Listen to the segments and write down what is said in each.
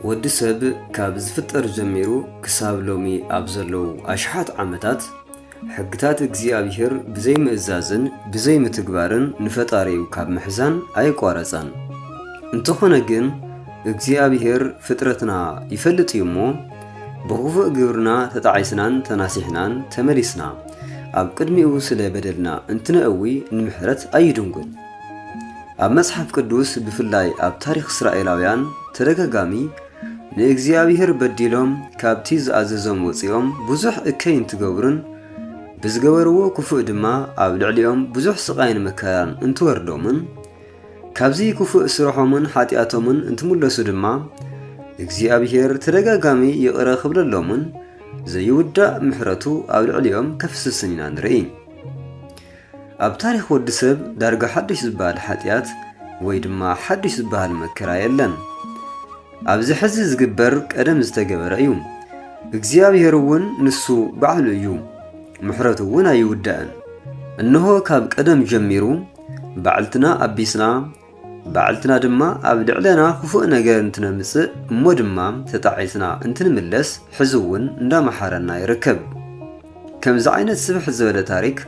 ወዲ ሰብ ካብ ዝፍጠር ጀሚሩ ክሳብ ሎሚ ኣብ ዘለዉ ኣሽሓት ዓመታት ሕግታት እግዚኣብሔር ብዘይምእዛዝን ብዘይምትግባርን ንፈጣሪኡ ካብ ምሕዛን ኣይቋረጸን። እንተኾነ ግን እግዚኣብሔር ፍጥረትና ይፈልጥ እዩ እሞ ብኽፉእ ግብርና ተጣዒስናን ተናሲሕናን ተመሊስና ኣብ ቅድሚኡ ስለ በደልና እንትነእዊ ንምሕረት ኣይድንጉን። ኣብ መጽሓፍ ቅዱስ ብፍላይ ኣብ ታሪኽ እስራኤላውያን ተደጋጋሚ ንእግዚኣብሔር በዲሎም ካብቲ ዝኣዘዞም ወጺኦም ብዙሕ እከይ እንትገብሩን ብዝገበርዎ ክፉእ ድማ ኣብ ልዕሊኦም ብዙሕ ስቓይን መከራን እንትወርዶምን ካብዚ ክፉእ ስርሖምን ሓጢኣቶምን እንትምለሱ ድማ እግዚኣብሄር ተደጋጋሚ ይቕረ ክብለሎምን ዘይውዳእ ምሕረቱ ኣብ ልዕሊኦም ከፍስስን ኢና ንርኢ። ኣብ ታሪኽ ወዲ ሰብ ዳርጋ ሓድሽ ዝበሃል ሓጢኣት ወይ ድማ ሓድሽ ዝበሃል መከራ የለን። ኣብዚ ሕዚ ዝግበር ቀደም ዝተገበረ እዩ። እግዚኣብሔር እውን ንሱ ባዕሉ እዩ፣ ምሕረቱ እውን ኣይውዳእን። እነሆ ካብ ቀደም ጀሚሩ ባዕልትና ኣቢስና ባዕልትና ድማ ኣብ ልዕለና ክፉእ ነገር እንትነምጽእ እሞ ድማ ተጣዒስና እንትንምለስ ሕዚ እውን እንዳመሓረና ይርከብ። ከምዚ ዓይነት ስብሕ ዝበለ ታሪክ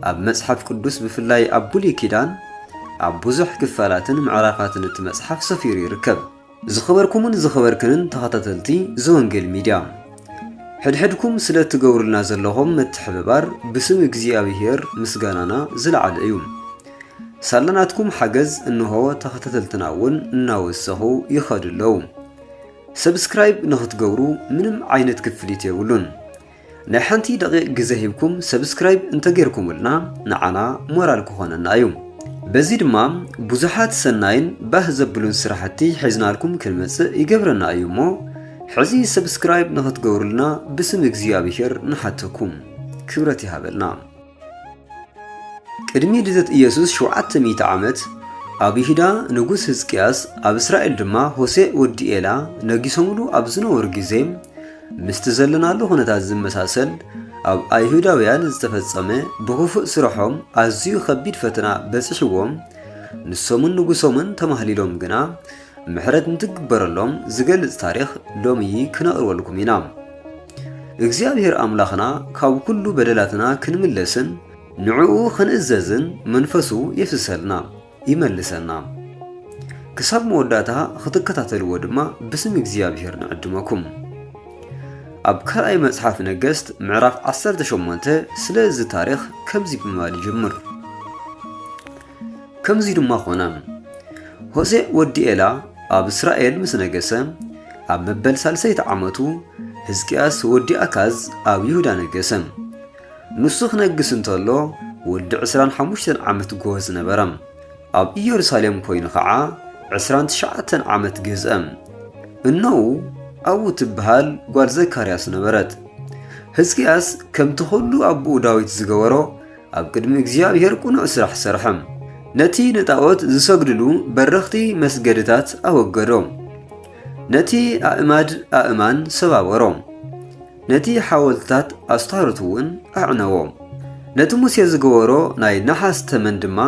ኣብ መጽሓፍ ቅዱስ ብፍላይ ኣብ ብሉይ ኪዳን ኣብ ብዙሕ ክፋላትን ምዕራፋትን እቲ መጽሓፍ ሰፊሩ ይርከብ። ዝኸበርኩምን ዝኸበርክንን ተኸታተልቲ ዘወንጌል ሚድያ ሕድሕድኩም ስለ እትገብሩልና ዘለኹም ምትሕብባር ብስም እግዚኣብሄር ምስጋናና ዝለዓለ እዩ። ሳላ ናትኩም ሓገዝ እንሆ ተኸታተልትና እውን እናወሰኹ ይኸዱ ኣለዉ። ሰብስክራይብ ንኽትገብሩ ምንም ዓይነት ክፍሊት የብሉን። ናይ ሓንቲ ደቂቕ ግዜ ሂብኩም ሰብስክራይብ እንተጌርኩምልና ንዓና ሞራል ክኾነና እዩ። በዚ ድማ ብዙሓት ሰናይን ባህ ዘብሉን ስራሕቲ ሒዝናልኩም ክንመጽእ ይገብረና እዩ እሞ ሕዚ ሰብስክራይብ ንኽትገብሩልና ብስም እግዚኣብሄር ንሓተኩም። ክብረት ይሃበልና። ቅድሚ ልደት ኢየሱስ ሸውዓተ ሚእቲ ዓመት፣ ኣብ ይሁዳ ንጉስ ህዝቅያስ፣ ኣብ እስራኤል ድማ ሆሴእ ወዲ ኤላ ነጊሶምሉ ኣብ ዝነበሩ ግዜ፣ ምስቲ ዘለናሉ ኩነታት ዝመሳሰል ኣብ ኣይሁዳውያን ዝተፈጸመ ብኽፉእ ስራሖም ኣዝዩ ኸቢድ ፈተና በጺሕዎም፣ ንሶምን ንጉሶምን ተማህሊሎም ግና ምሕረት ንትግበረሎም ዝገልጽ ታሪኽ ሎሚ ክነቕርበልኩም ኢና። እግዚኣብሔር ኣምላኽና ካብ ኩሉ በደላትና ክንምለስን ንዕኡ ክንእዘዝን መንፈሱ የፍስሰልና ይመልሰና። ክሳብ መወዳእታ ክትከታተልዎ ድማ ብስም እግዚኣብሔር ንዕድመኩም። ኣብ ካልኣይ መጽሓፍ ነገሥት ምዕራፍ 18 ስለ እዚ ታሪኽ ከምዚ ብምባል ይጅምር። ከምዚ ድማ ኾነ፣ ሆሴእ ወዲ ኤላ ኣብ እስራኤል ምስ ነገሰ፣ ኣብ መበል ሳልሰይቲ ዓመቱ ህዝቅያስ ወዲ ኣካዝ ኣብ ይሁዳ ነገሰ። ንሱ ክነግስ እንተሎ ወዲ ዕስራን ሓሙሽተን ዓመት ጎህ ዝነበረ፣ ኣብ ኢየሩሳሌም ኮይኑ ኸዓ ዕስራን ትሽዓተን ዓመት ገዝአ። እነዉ ኣዉ ትብሃል ጓል ዘካርያስ ነበረት። ህዝቅያስ ከምቲ ኹሉ ኣቦኡ ዳዊት ዝገበሮ፣ ኣብ ቅድሚ እግዚኣብሔር ቅኑዕ ስራሕ ሰርሐ። ነቲ ንጣዖት ዝሰግድሉ በረኽቲ መስገድታት ኣወገዶ። ነቲ ኣእማድ ኣእማን ሰባበሮ። ነቲ ሓወልትታት ኣስታሮት እውን ኣዕነዎ። ነቲ ሙሴ ዝገበሮ ናይ ነሓስ ተመን ድማ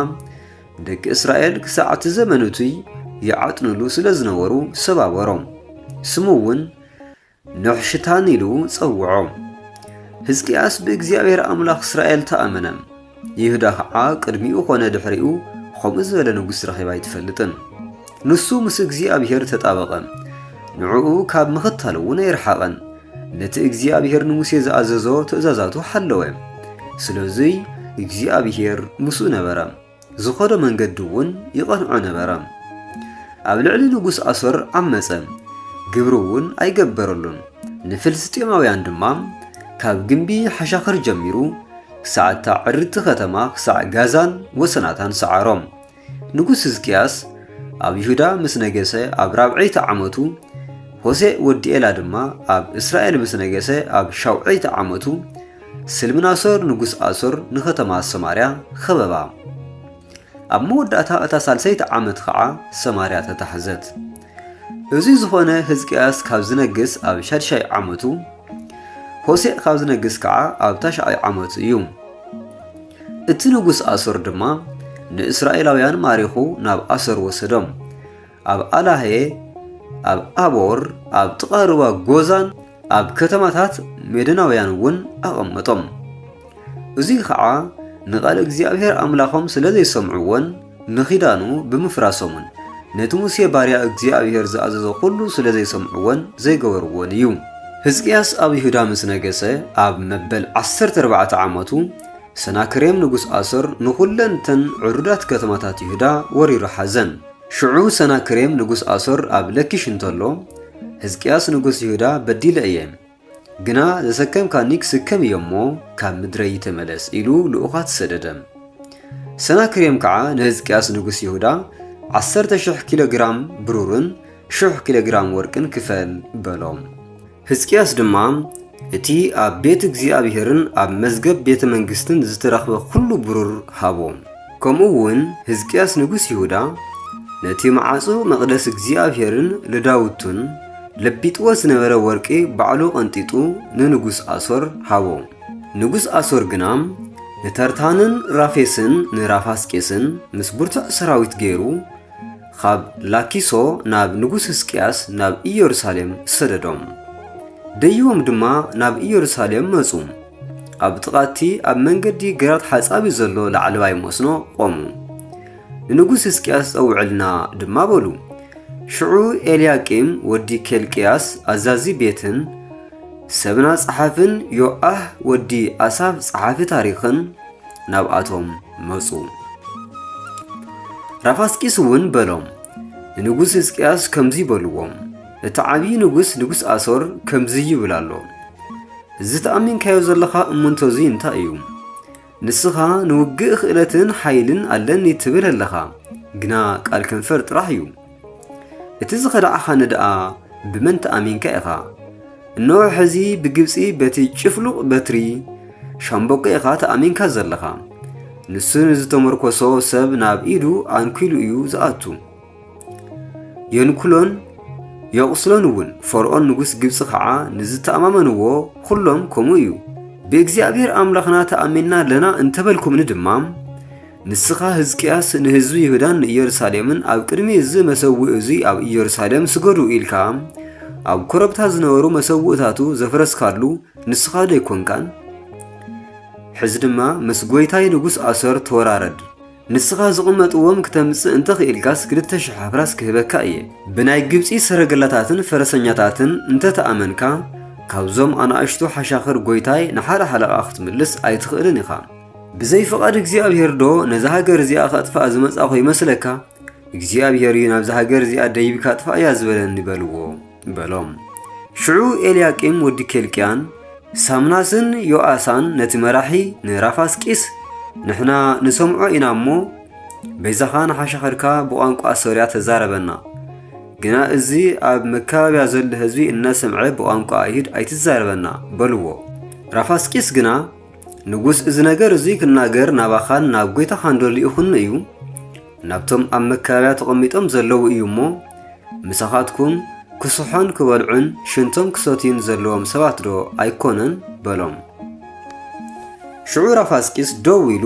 ደቂ እስራኤል ክሳዕ እቲ ዘመን እቱይ ይዓጥንሉ ስለ ዝነበሩ ሰባበሮ። ስሙ እውን ኖኅሽታን ኢሉ ጸውዖ። ሕዝቅያስ ብእግዚኣብሔር ኣምላኽ እስራኤል ተኣመነ፣ ይሁዳ ኸዓ ቅድሚኡ ኾነ ድኅሪኡ ኸምኡ ዝበለ ንጉሥ ረኺባ ኣይትፈልጥን። ንሱ ምስ እግዚኣብሔር ተጣበቐ፣ ንዕኡ ካብ ምኽታልውን ኣይረሓቐን። ነቲ እግዚኣብሔር ንሙሴ ዝኣዘዞ ትእዛዛቱ ሓለወ። ስለዙይ እግዚኣብሔር ምስኡ ነበረ። ዝኸዶ መንገዲ እውን ይቐንዖ ነበረ። ኣብ ልዕሊ ንጉስ ኣሶር ዓመጸ፣ ግብሪ እውን ኣይገበረሉን። ንፍልስጥኤማውያን ድማ ካብ ግምቢ ሓሻኽር ጀሚሩ ክሳዕ እታ ዕርድቲ ኸተማ ክሳዕ ጋዛን ወሰናታን ሰዓሮም። ንጉስ ህዝቅያስ ኣብ ይሁዳ ምስ ነገሰ ኣብ ራብዐይቲ ዓመቱ ሆሴእ ወዲ ኤላ ድማ ኣብ እስራኤል ምስ ነገሰ ኣብ ሻውዐይቲ ዓመቱ ስልምናሶር ንጉስ ኣሶር ንኸተማ ሰማርያ ኸበባ። ኣብ መወዳእታ እታ ሳልሰይቲ ዓመት ኸዓ ሰማርያ ተታሕዘት። እዙይ ዝኾነ ህዝቅያስ ካብ ዝነግስ ኣብ ሻድሻይ ዓመቱ፣ ሆሴዕ ካብ ዝነግስ ከዓ ኣብ ታሽዓይ ዓመቱ እዩ። እቲ ንጉስ ኣሶር ድማ ንእስራኤላውያን ማሪኹ ናብ ኣሶር ወሰዶም። ኣብ ኣላሄ፣ ኣብ ኣቦር፣ ኣብ ጥቓ ሩባ ጎዛን ኣብ ከተማታት ሜዶናውያን እውን ኣቐመጦም። እዙይ ኸዓ ንቓል እግዚኣብሔር ኣምላኾም ስለ ዘይሰምዕዎን ንኺዳኑ ብምፍራሶምን ነቲ ሙሴ ባርያ እግዚኣብሔር ዝኣዘዞ ዅሉ ስለ ዘይሰምዕዎን ዘይገበርዎን እዩ። ህዝቅያስ ኣብ ይሁዳ ምስ ነገሰ ኣብ መበል ዓሰርተ ኣርባዕተ ዓመቱ ሰናክሬም ንጉስ ኣሶር ንዅለን እተን ዕሩዳት ከተማታት ይሁዳ ወሪሩ ሓዘን። ሽዑ ሰናክሬም ንጉስ ኣሶር ኣብ ለኪሽ እንተሎ፣ ሕዝቅያስ ንጉስ ይሁዳ በዲለ እየ፣ ግና ዘሰከምካኒ ክስከም እዮ እሞ ካብ ምድረይ ተመለስ ኢሉ ልኡኻት ሰደደ። ሰናክሬም ከዓ ንሕዝቅያስ ንጉስ ይሁዳ ዓሰርተ ሽሕ ኪሎ ግራም ብሩርን ሽሕ ኪሎ ግራም ወርቅን ክፈል በሎ። ሕዝቅያስ ድማ እቲ ኣብ ቤት እግዚኣብሔርን ኣብ መዝገብ ቤተ መንግሥትን ዝተረኽበ ዅሉ ብሩር ሃቦ። ከምኡውን ሕዝቅያስ ንጉሥ ይሁዳ ነቲ መዓጹ መቕደስ እግዚኣብሔርን ልዳውቱን ለቢጥዎ ዝነበረ ወርቂ ባዕሉ ቐንጢጡ ንንጉሥ ኣሶር ሃቦ። ንጉሥ ኣሶር ግና ንተርታንን ራፌስን ንራፋስቄስን ምስ ብርቱዕ ሰራዊት ገይሩ ኻብ ላኪሶ ናብ ንጉስ ህዝቅያስ ናብ ኢየሩሳሌም ሰደዶም። ደይቦም ድማ ናብ ኢየሩሳሌም መጹ። ኣብ ጥቓ እቲ ኣብ መንገዲ ግራት ሓጻቢ ዘሎ ላዕለዋይ መስኖ ቖሙ። ንንጉስ ህዝቅያስ ጸውዕልና ድማ በሉ። ሽዑ ኤልያቂም ወዲ ኬልቅያስ ኣዛዚ ቤትን ሰብና ጸሓፍን ዮኣህ ወዲ ኣሳፍ ጸሓፊ ታሪኽን ናብኣቶም መጹ። ራፋስቂስ እውን በሎም፣ ንንጉስ ህዝቅያስ ከምዚ በልዎ፣ እቲ ዓብዪ ንጉስ ንጉስ ኣሶር ከምዚ ይብል ኣሎ፣ እዚ ተኣሚንካዮ ዘለኻ እምንቶ እዚ እንታይ እዩ? ንስኻ ንውግእ ክእለትን ሓይልን ኣለኒ ትብል ኣለኻ፣ ግና ቃል ከንፈር ጥራሕ እዩ። እቲ ዝኸዳዕኻኒ ደኣ ብመን ተኣሚንካ ኢኻ? እነሆ ሕዚ ብግብጺ በቲ ጭፍሉቕ በትሪ ሻምበቆ ኢኻ ተኣሚንካ ዘለኻ። ንሱ ንዝተመርኮሶ ሰብ ናብ ኢዱ ኣንኪሉ እዩ ዝኣቱ። የንኩሎን የቑስሎን እውን ፈርኦን ንጉስ ግብፂ ከዓ ንዝተኣማመንዎ ኹሎም ከምኡ እዩ ብእግዚኣብሔር ኣምላኽና ተኣሚንና ኣለና እንተበልኩምኒ ድማ ንስኻ ህዝቅያስ ንህዝቢ ይሁዳን ንኢየሩሳሌምን ኣብ ቅድሚ እዚ መሰውኢ እዚ ኣብ ኢየሩሳሌም ስገዱ ኢልካ ኣብ ኮረብታ ዝነበሩ መሰውእታቱ ዘፍረስካሉ ንስኻ ዶ ኣይኮንካን? ሕዚ ድማ ምስ ጐይታይ ንጉስ ኣሶር ተወራረድ ንስኻ ዝቕመጥዎም ክተምጽእ እንተ ኽኢልካስ ክልተ ሽሕ ኣፍራስ ክህበካ እየ ብናይ ግብፂ ሰረገላታትን ፈረሰኛታትን እንተ ተኣመንካ ካብዞም ኣናእሽቱ ሓሻኽር ጐይታይ ንሓደ ሓለቓ ክትምልስ ኣይትኽእልን ኢኻ ብዘይ ፍቓድ እግዚኣብሄር ዶ ነዛ ሃገር እዚኣ ከጥፍኣ ዝመጻኹ ይመስለካ? እግዚኣብሄር እዩ ናብዛ ሃገር እዚኣ ደይብካ ኣጥፍኣያ ዝበለኒ በልዎ በሎም። ሽዑ ኤልያቂም ወዲ ኬልቅያን ሳምናስን ዮኣሳን ነቲ መራሒ ንራፋስቂስ ንሕና ንሰምዖ ኢና እሞ በይዛኻ ንሓሻኸርካ ብቋንቋ ሶርያ ተዛረበና ግና እዚ ኣብ መካባብያ ዘሎ ህዝቢ እናሰምዐ ብቋንቋ ኣይሁድ ኣይትዛረበና በልዎ። ራፋስቂስ ግና ንጉስ እዚ ነገር እዙይ ክናገር ናባኻን ናብ ጐይታኻን ዶ ልኢኹኒ እዩ? ናብቶም ኣብ መካበብያ ተቐሚጦም ዘለዉ እዩ እሞ፣ ምሳኻትኩም ክስሖን ክበልዑን ሽንቶም ክሰትዩን ዘለዎም ሰባት ዶ ኣይኮነን? በሎም። ሽዑ ራፋስቂስ ደው ኢሉ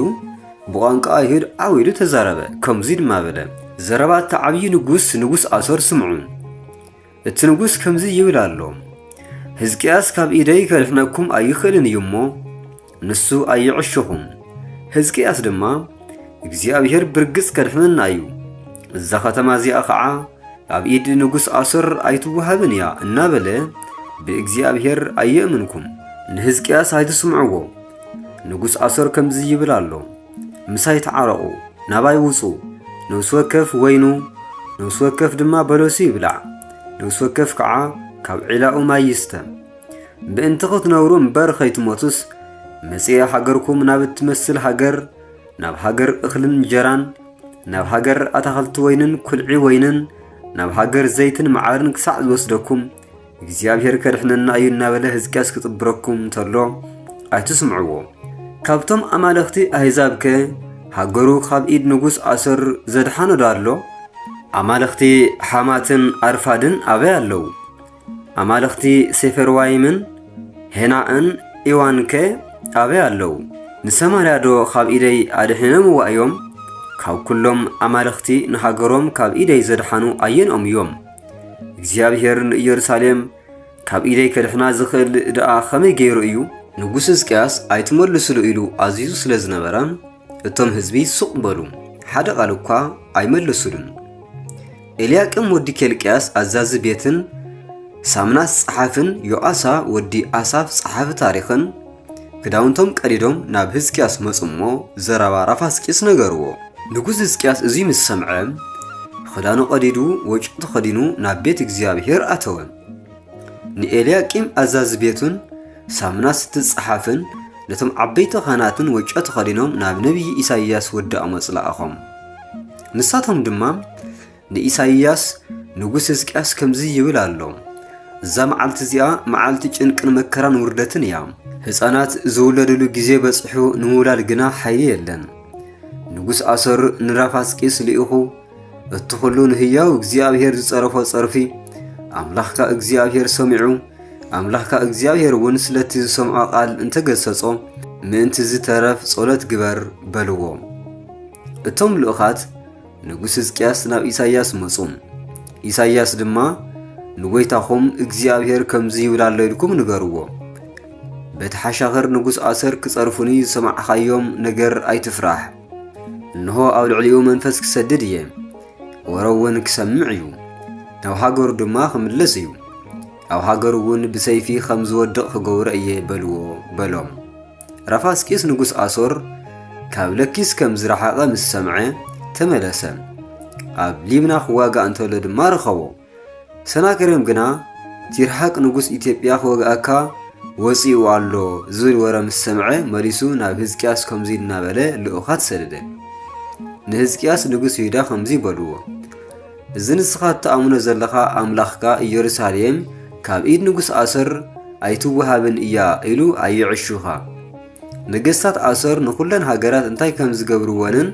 ብቋንቋ ኣይሁድ ዓው ኢሉ ተዛረበ፣ ከምዙይ ድማ በለ፣ ዘረባ እቲ ዓብዪ ንጉስ ንጉስ ኣሶር ስምዑ። እቲ ንጉሥ ከምዚ ይብል ኣሎ፣ ሕዝቅያስ ካብ ኢደይ ከድሕነኩም ኣይኽእልን እዩ እሞ፣ ንሱ ኣይዕሸኹም። ሕዝቅያስ ድማ፣ እግዚኣብሔር ብርግጽ ከድሕነና እዩ፣ እዛ ኸተማ እዚኣ ኸዓ ኣብ ኢድ ንጉሥ ኣሶር ኣይትወሃብን እያ እናበለ ብእግዚኣብሔር ኣየእምንኩም። ንሕዝቅያስ ኣይትስምዕዎ፣ ንጉሥ ኣሶር ከምዚ ይብል ኣሎ፣ ምሳይ ተዓረቑ፣ ናባይ ውጹ፣ ነብሲ ወከፍ ወይኑ፣ ነብሲ ወከፍ ድማ በለሱ ይብላዕ፣ ነብሲ ወከፍ ከዓ ካብ ዒላኡ ማይ ይስተ። ምእንቲ ክትነብሩ እምበር ከይትሞቱስ መጽኤ ሃገርኩም ናብ እትመስል ሃገር ናብ ሃገር እኽልን እንጀራን ናብ ሃገር ኣታኽልቲ ወይንን ኩልዒ ወይንን ናብ ሃገር ዘይትን መዓርን ክሳዕ ዝወስደኩም እግዚኣብሔር ከድሕነና እዩ እናበለ ህዝቅያስ ክጽብረኩም እንተሎ ኣይትስምዕዎ። ካብቶም ኣማለኽቲ ኣህዛብከ ሃገሩ ካብ ኢድ ንጉስ ኣሶር ዘድሓኖ ዶ ኣሎ? ኣማለኽቲ ሓማትን ኣርፋድን ኣበይ ኣለዉ? ኣማለኽቲ ሴፈርዋይምን ሄናእን ኢዋንከ ኣበይ ኣለዉ? ንሰማርያ ዶ ካብ ኢደይ ኣድሒኖምዋ እዮም? ካብ ኩሎም ኣማለኽቲ ንሃገሮም ካብ ኢደይ ዘድሓኑ ኣየንኦም እዮም? እግዚኣብሔር ንኢየሩሳሌም ካብ ኢደይ ከድሕና ዝኽእል ደኣ ኸመይ ገይሩ እዩ? ንጉስ ሕዝቅያስ ኣይትመልስሉ ኢሉ ኣዚዙ ስለ ዝነበረ እቶም ህዝቢ ሱቕ በሉ፣ ሓደ ቓል እኳ ኣይመለሱሉን። ኤልያቅም ወዲ ኬልቅያስ ኣዛዚ ቤትን፣ ሳምናስ ጸሓፍን፣ ዮኣሳ ወዲ ኣሳፍ ጸሓፊ ታሪኽን፣ ክዳውንቶም ቀዲዶም ናብ ህዝቅያስ መጹ እሞ ዘረባ ራፋስቂስ ነገርዎ። ንጉስ ህዝቅያስ እዙይ ምስ ሰምዐ ኽዳኑ ቐዲዱ ወጭኡ ተኸዲኑ ናብ ቤት እግዚኣብሔር ኣተወ። ንኤልያቂም ኣዛዚ ቤቱን ሳምናስ እትጸሓፍን ነቶም ዓበይቲ ኻህናትን ወጮ ተኸዲኖም ናብ ነቢዪ ኢሳይያስ ወዲ ኣሞጽ ለኣኾም። ንሳቶም ድማ ንኢሳይያስ ንጉስ ህዝቅያስ ከምዚ ይብል ኣሎ፣ እዛ መዓልቲ እዚኣ መዓልቲ ጭንቅን መከራን ውርደትን እያ። ህጻናት ዝውለድሉ ግዜ በጺሑ ንምውላድ ግና ሓይሊ የለን። ንጉስ ኣሰር ንራፋስቂስ ልኢኹ እቲ ኹሉ ንህያው እግዚኣብሔር ዝጸረፎ ጸርፊ ኣምላኽካ እግዚኣብሔር ሰሚዑ ኣምላኽካ እግዚኣብሔር እውን ስለቲ ዝሰምዖ ቃል እንተገሰጾ ምእንቲ ዝተረፍ ጸሎት ግበር በልዎ። እቶም ልኡኻት ንጉስ ሕዝቅያስ ናብ ኢሳይያስ መጹ። ኢሳይያስ ድማ ንጐይታኹም እግዚኣብሔር ከምዚ ይብል ኣሎ ኢልኩም ንገርዎ። በቲ ሓሻኽር ንጉስ ኣሰር ክጸርፉኒ ዝሰማዕኻዮም ነገር ኣይትፍራሕ። እንሆ ኣብ ልዕሊኡ መንፈስ ክሰድድ እየ፣ ወረ እውን ክሰምዕ እዩ፣ ናብ ሃገሩ ድማ ክምለስ እዩ፣ ኣብ ሃገሩ እውን ብሰይፊ ከም ዝወድቕ ክገብሮ እየ በልዎ በሎም። ራፋስቂስ ንጉስ ኣሶር ካብ ለኪስ ከም ዝረሓቐ ምስ ሰምዐ ተመለሰ። ኣብ ሊብና ክዋጋእ እንተሎ ድማ ረኸቦ። ሰናክሬም ግና ቲርሓቅ ንጉስ ኢትዮጵያ ክወግኣካ ወፂኡ ኣሎ ዝብል ወረ ምስ ሰምዐ መሊሱ ናብ ህዝቅያስ ከምዚ እናበለ ልኡኻት ሰደደ ንህዝቅያስ ንጉስ ይሁዳ ከምዚ በልዎ እዚ ንስኻ እትኣምኖ ዘለኻ ኣምላኽካ ኢየሩሳሌም ካብ ኢድ ንጉሥ ኣሶር ኣይትወሃብን እያ ኢሉ ኣይዕሹኻ። ነገሥታት ኣሶር ንኹለን ሃገራት እንታይ ከም ዝገብርወንን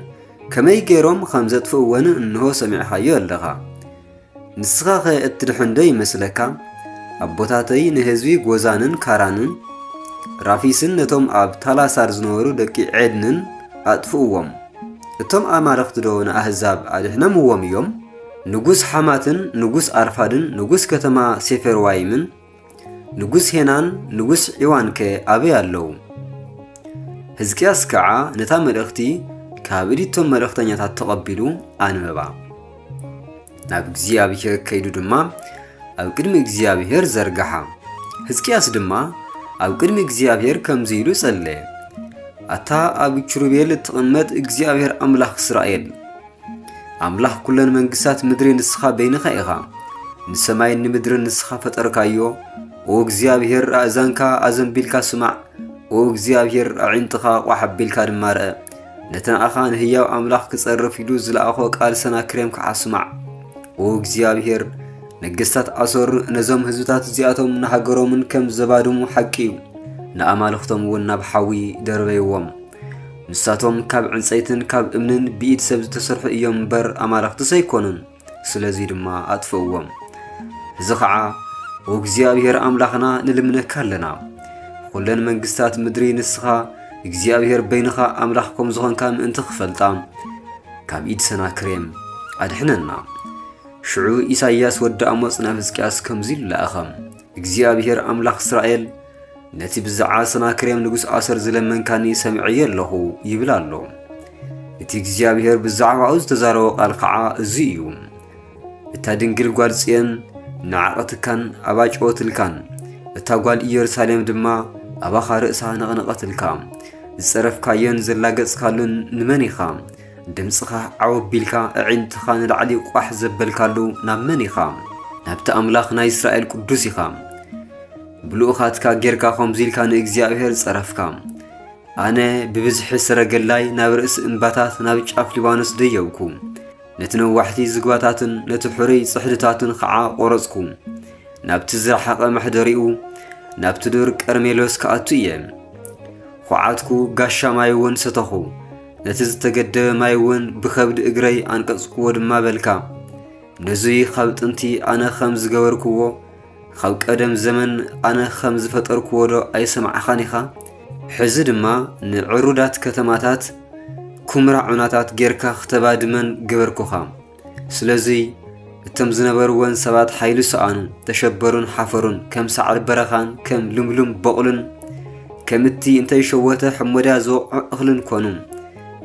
ከመይ ገይሮም ኸም ዘጥፍእወንን እንሆ ሰሚዕኻዮ ኣለኻ። ንስኻኸ እትድሕንዶ ይመስለካ? ኣቦታተይ ንህዝቢ ጎዛንን ካራንን ራፊስን ነቶም ኣብ ታላሳር ዝነበሩ ደቂ ዔድንን ኣጥፍእዎም። እቶም ኣማልኽቲዶ ንኣህዛብ ኣድኅነምዎም እዮም? ንጉሥ ሓማትን ንጉሥ ኣርፋድን ንጉሥ ከተማ ሴፈርዋይምን ንጉሥ ሄናን ንጉሥ ዒዋንከ ኣበይ ኣለዉ? ሕዝቅያስ ከዓ ነታ መልእኽቲ ካብ እዲቶም መልእኽተኛታት ተቐቢሉ ኣንበባ። ናብ እግዚኣብሔር ከይዱ ድማ ኣብ ቅድሚ እግዚኣብሔር ዘርግሓ ህዝቅያስ ድማ ኣብ ቅድሚ እግዚኣብሔር ከምዚ ኢሉ ጸለየ ኣታ ኣብ ኪሩቤል እትቕመጥ እግዚኣብሔር ኣምላኽ እስራኤል ኣምላኽ ኩለን መንግስታት ምድሪ ንስኻ በይንኻ ኢኻ ንሰማይን ንምድርን ንስኻ ፈጠርካዮ ኦ እግዚኣብሔር ኣእዛንካ ኣዘንቢልካ ስማዕ ኦ እግዚኣብሔር ኣዒንትኻ ቋሕ ኣቢልካ ድማ ርአ ነቲ ንኣኻ ንህያው ኣምላኽ ክጸርፍ ኢሉ ዝለኣኾ ቃል ሰናክሬም ከዓ ስማዕ። ኦ እግዚኣብሔር፣ ነገሥታት ኣሶር ነዞም ህዝብታት እዚኣቶም ንሃገሮምን ከም ዘባድሙ ሓቂ እዩ። ንኣማልኽቶም እውን ናብ ሓዊ ደርበይዎም ንሳቶም ካብ ዕንፀይትን ካብ እምንን ብኢድ ሰብ ዝተሰርሑ እዮም እምበር ኣማልኽትስ ኣይኮኑን ስለዙይ ድማ ኣጥፍእዎም። እዚ ኸዓ ኦ እግዚኣብሔር ኣምላኽና ንልምነካ ኣለና። ኹለን መንግስታት ምድሪ ንስኻ እግዚኣብሔር በይንኻ ኣምላኽ ከም ዝኾንካ ምእንቲ ክፈልጣ ካብ ኢድ ሰናክሬም ኣድሕነና። ሽዑ ኢሳይያስ ወዲ ኣሞጽ ናብ ህዝቅያስ ከምዚ ኢሉ ለኣኸ። እግዚኣብሄር ኣምላኽ እስራኤል ነቲ ብዛዕባ ሰናክሬም ንጉሥ ኣሰር ዝለመንካኒ ሰምዐዮ ኣለኹ ይብል ኣሎ። እቲ እግዚኣብሄር ብዛዕባኡ ዝተዛረቦ ቃል ከዓ እዚ እዩ። እታ ድንግል ጓል ጽዮን ንዓቐትካን ኣባጭወትልካን፣ እታ ጓል ኢየሩሳሌም ድማ ኣባኻ ርእሳ ነቕነቐትልካ። ዝጸረፍካዮን ዘላገጽካሉን ንመን ኢኻ? ድምጽኻ ዓው ኣቢልካ ኣዒንትኻ ንላዕሊ ቋሕ ዘበልካሉ ናብ መን ኢኻ? ናብቲ ኣምላኽ ናይ እስራኤል ቅዱስ ኢኻ። ብልኡኻትካ ጌርካ ከምዚ ኢልካ ንእግዚኣብሄር ጸረፍካ። ኣነ ብብዝሒ ሰረገላይ ናብ ርእሲ እምባታት ናብ ጫፍ ሊባኖስ ደየብኩ። ነቲ ነዋሕቲ ዝግባታትን ነቲ ሕሩይ ጽሕድታትን ኸዓ ቈረጽኩ። ናብቲ ዝረሓቐ መሕደሪኡ ናብቲ ዱር ቀርሜሎስ ክኣቱ እየ። ኹዓትኩ፣ ጋሻ ማይ እውን ሰተኹ። ነቲ ዝተገደበ ማይ እውን ብኸብዲ እግረይ ኣንቀጽኩዎ ድማ በልካ። ነዙይ ኻብ ጥንቲ ኣነ ኸም ዝገበርኩዎ፣ ኻብ ቀደም ዘመን ኣነ ኸም ዝፈጠርኩዎ ዶ ኣይሰማዕኻን ኢኻ? ሕዚ ድማ ንዕሩዳት ከተማታት ኵምራ ዑናታት ጌርካ ኽተባድመን ገበርኩኻ። ስለዚ እቶም ዝነበርወን ሰባት ሓይሊ ሰኣኑ፣ ተሸበሩን ሓፈሩን፣ ከም ሳዕሪ በረኻን ከም ልምሉም በቑልን ከም እቲ እንተይሸወተ ሕሞዳ ዝወቕዖ እኽልን ኮኑ።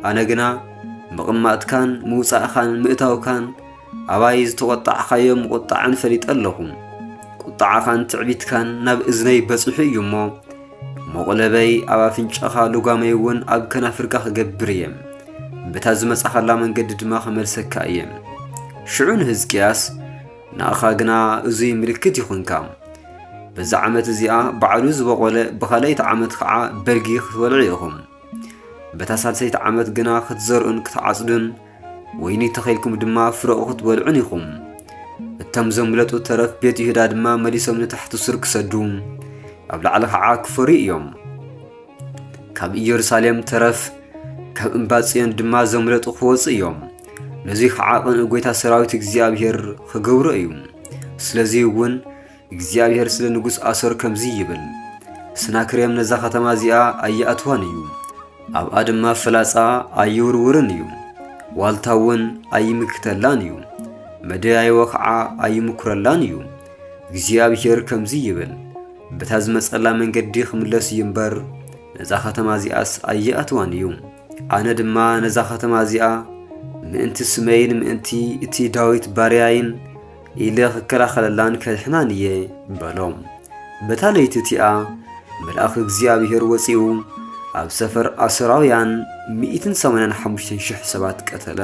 ኣነ ግና ምቕማጥካን ምውጻእኻን ምእታውካን ኣባይ ዝተቖጣዕኻዮ ምቑጣዕን ፈሊጠ ኣለኹ። ቁጣዓኻን ትዕቢትካን ናብ እዝነይ በጺሑ እዩ እሞ መቑለበይ ኣብ ኣፍንጫኻ ልጓመይ እውን ኣብ ከናፍርካ ክገብር እየ በታ ዝመጻኻላ መንገዲ ድማ ክመልሰካ እየ ሽዑ ንህዝቅያስ ንኣኻ ግና እዙይ ምልክት ይኹንካ በዛ ዓመት እዚኣ ባዕሉ ዝበቖለ ብኻልኣይቲ ዓመት ከዓ በልጊ ክትበልዑ ኢኹም በታ ሳልሰይቲ ዓመት ግና ክትዘርኡን ክትዓጽዱን ወይኒ ተኺልኩም ድማ ፍረኡ ክትበልዑን ኢኹም። እቶም ዘምለጡ ተረፍ ቤት ይሁዳ ድማ መሊሶም ንታሕቲ ሱር ክሰዱ ኣብ ላዕሊ ኸዓ ክፈርዩ እዮም። ካብ ኢየሩሳሌም ተረፍ ካብ እምባ ጽዮን ድማ ዘምለጡ ክወፁ እዮም። ነዙይ ኸዓ ቕንኢ ጐይታ ሰራዊት እግዚኣብሔር ኽገብሮ እዩ። ስለዙይ እውን እግዚኣብሄር ስለ ንጉስ ኣሶር ከምዚ ይብል፣ ሰናክሬም ነዛ ኸተማ እዚኣ ኣይኣትዋን እዩ፣ ኣብኣ ድማ ፍላጻ ኣይውርውርን እዩ፣ ዋልታ እውን ኣይምክተላን እዩ፣ መደያይቦ ኸዓ ኣይምኩረላን እዩ። እግዚኣብሄር ከምዚ ይብል፣ በታ ዝመጸላ መንገዲ ኽምለስ እዩ እምበር፣ ነዛ ኸተማ እዚኣስ ኣይኣትዋን እዩ። ኣነ ድማ ነዛ ኸተማ እዚኣ ምእንቲ ስመይን ምእንቲ እቲ ዳዊት ባርያይን ኢለ ኽከላኸለላን ከድሕናን እየ በሎ። በታ ለይቲ እቲኣ መልኣኽ እግዚኣብሄር ወፂኡ ኣብ ሰፈር ኣሶራውያን ሚእትን ሰማንያን ሓሙሽተን ሽሕ ሰባት ቀተለ።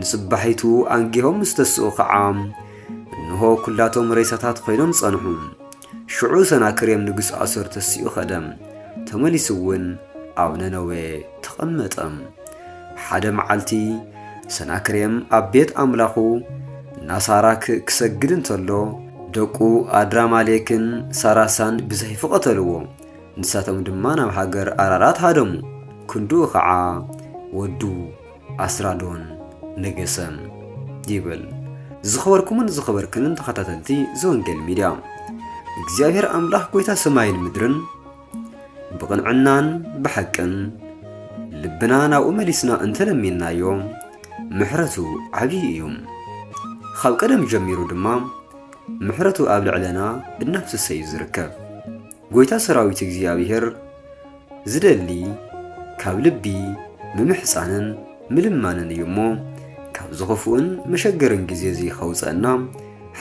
ንፅባሒቱ ኣንጊሆም ምስ ተስኡ ኸዓ እንሆ ኵላቶም ሬሳታት ዀይኖም ጸንሑ። ሽዑ ሰናክሬም ንጉስ ኣሶር ተሲኡ ኸደ፣ ተመሊሱውን ኣብ ነነዌ ተቐመጠ። ሓደ መዓልቲ ሰናክሬም ኣብ ቤት ኣምላኹ ናሳራክ ክሰግድ እንተሎ ደቁ ኣድራማሌክን ሳራሳን ብሰይፊ ቐተልዎ። ንሳቶም ድማ ናብ ሃገር ኣራራት ሃደሙ፣ ክንድኡ ኸዓ ወዱ ኣስራዶን ነገሰ ይብል። ዝኸበርኩምን ዝኸበርክንን ተኸታተልቲ ዘወንጌል ሚድያ እግዚኣብሔር ኣምላኽ ጎይታ ሰማይን ምድርን ብቕንዕናን ብሓቅን ልብና ናብኡ መሊስና እንተለሚንናዮ ምሕረቱ ዓብዪ እዩ። ካብ ቀደም ጀሚሩ ድማ ምሕረቱ ኣብ ልዕለና እናፍሰሰ እዩ ዝርከብ። ጎይታ ሰራዊት እግዚኣብሔር ዝደሊ ካብ ልቢ ምምሕፃንን ምልማንን እዩ እሞ ካብዚ ኽፉእን መሸገርን ግዜ እዚ ኸውፀእና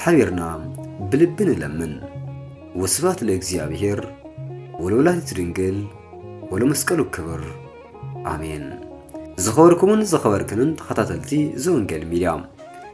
ሓቢርና ብልቢ ንለምን ወስብሐት ለእግዚኣብሔር ወለወላዲቱ ድንግል ወለመስቀሉ ክብር ኣሜን። ዝኸበርኩምን ዝኸበርክንን ተኸታተልቲ ዘወንጌል ሚድያ